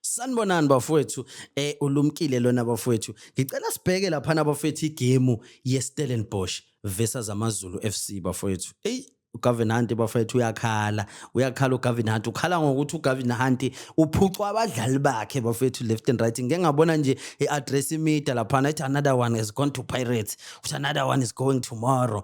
Sanibonani bafowethu eh ulumkile lona bafowethu ngicela sibheke lapha nabafowethu igemu yeStellenbosch versus AmaZulu FC bafowethu hey uGavin Hunt bafethu uyakhala uyakhala uGavin Hunt ukhala ngokuthi uGavin Hunt uphucwa abadlali bakhe bafethu left and right ngeke ngabona nje iaddress imida lapha ethi another one is going to Pirates uthi another one is going tomorrow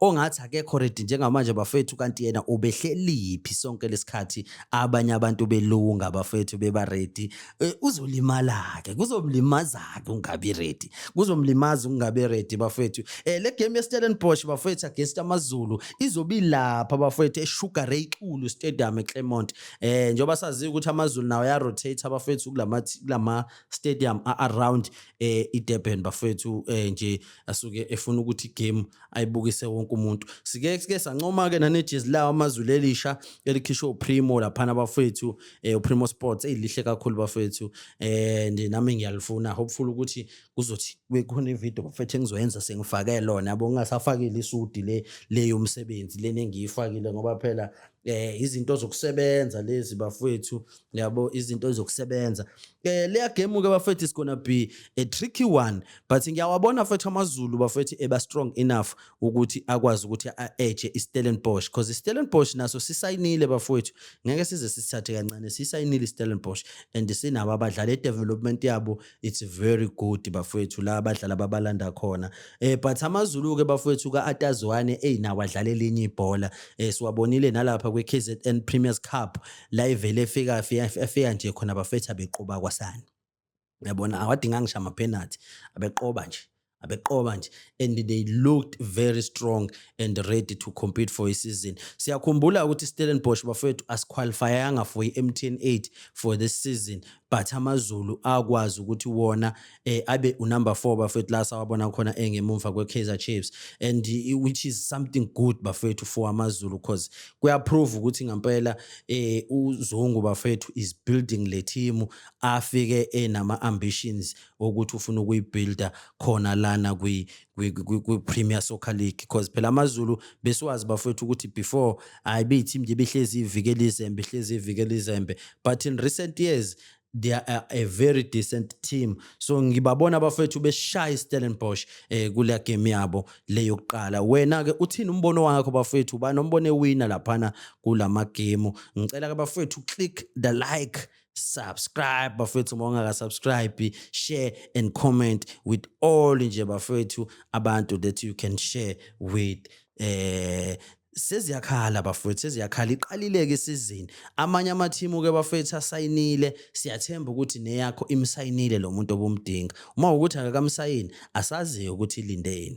ongathi akekho ready njengamanje bafethu kanti yena ubehleliphi sonke lesikhathi abanye abantu belunga bafethu beba ready e, uzolimala-ke kuzomlimaza-ke ungabi ready kuzomlimaza ukungabi ready bafethu e, le game yestellenbosch bafethu against amazulu izobe ilapha bafethu esugar ray xulu stadium eclermont um njengoba saziyo ukuthi amazulu nawo ayarotate abafethu kulama stadium a-around um idurban bafethu um nje asuke efuna ukuthi igame ayibukise wonke umuntu sike sike sancoma ke nanejezi lawo amazulu elisha elikhishwe uPrimo laphana bafethu eh uPrimo Sports elihle kakhulu bafethu eh nje nami ngiyalifuna hopeful ukuthi kuzothi kukhona ivideo bafethu engizoyenza sengifake lona yabo ngingasafakile isudi le leyo umsebenzi leni engiyifakile ngoba phela eh izinto zokusebenza lezi bafethu yabo izinto zokusebenza eh leya game ke bafethu is gonna be a tricky one but ngiyawabona futhi amazulu bafethu eba strong enough ukuthi akwazi ukuthi a-edge iStellenbosch because iStellenbosch naso sisayinile bafethu ngeke size sisithathe kancane sisayinile iStellenbosch and sinabo abadlali edevelopment yabo It's very good bafowethu la abadlala babalanda khona eh but amazulu ke bafowethu ka Atazwane ey nawo adlala elinye ibhola eh siwabonile nalapha kwi KZN Premier's Cup la ivele efika efika nje khona bafethu abeqoba kwasani yabona awadinga ngisho ama penalty abeqoba nje abeqoba nje and they looked very strong and ready to compete for isizini siyakhumbula ukuthi Stellenbosch bafethu asiqualifyanga for i-MTN 8 for this season but amazulu akwazi ukuthi wona eh, abe unumber 4 bafethu la sawabona khona engemumva kweKaizer Chiefs and eh, which is something good bafethu for amazulu because kuyaprove ukuthi ngempela eh, uzungu bafethu is building le team afike enama ambitions wokuthi ufuna ukuyibuilda khona lana kwi kwi-Premier Soccer League because phela amaZulu besiwazi bafowethu ukuthi before hayi beyiteam nje behlezi ivikela izembe ihlezi ivikela izembe but in recent years they are a very decent team so ngibabona abafethu beshaya iStellenbosch eh kule game yabo le yokuqala wena ke uthini umbono wakho bafethu banombono ewina laphana kulama game ngicela ke bafethu click the like subscribe bafethu uma ungakasubscribe share and comment with all nje bafethu abantu that you can share with eh seziyakhala bafowethu seziyakhala iqalileke isizini amanye amathimu ke bafowethu asayinile siyathemba ukuthi neyakho imsayinile lo muntu obumdinga uma ukuthi akakamsayini asaziyo ukuthi ilindeni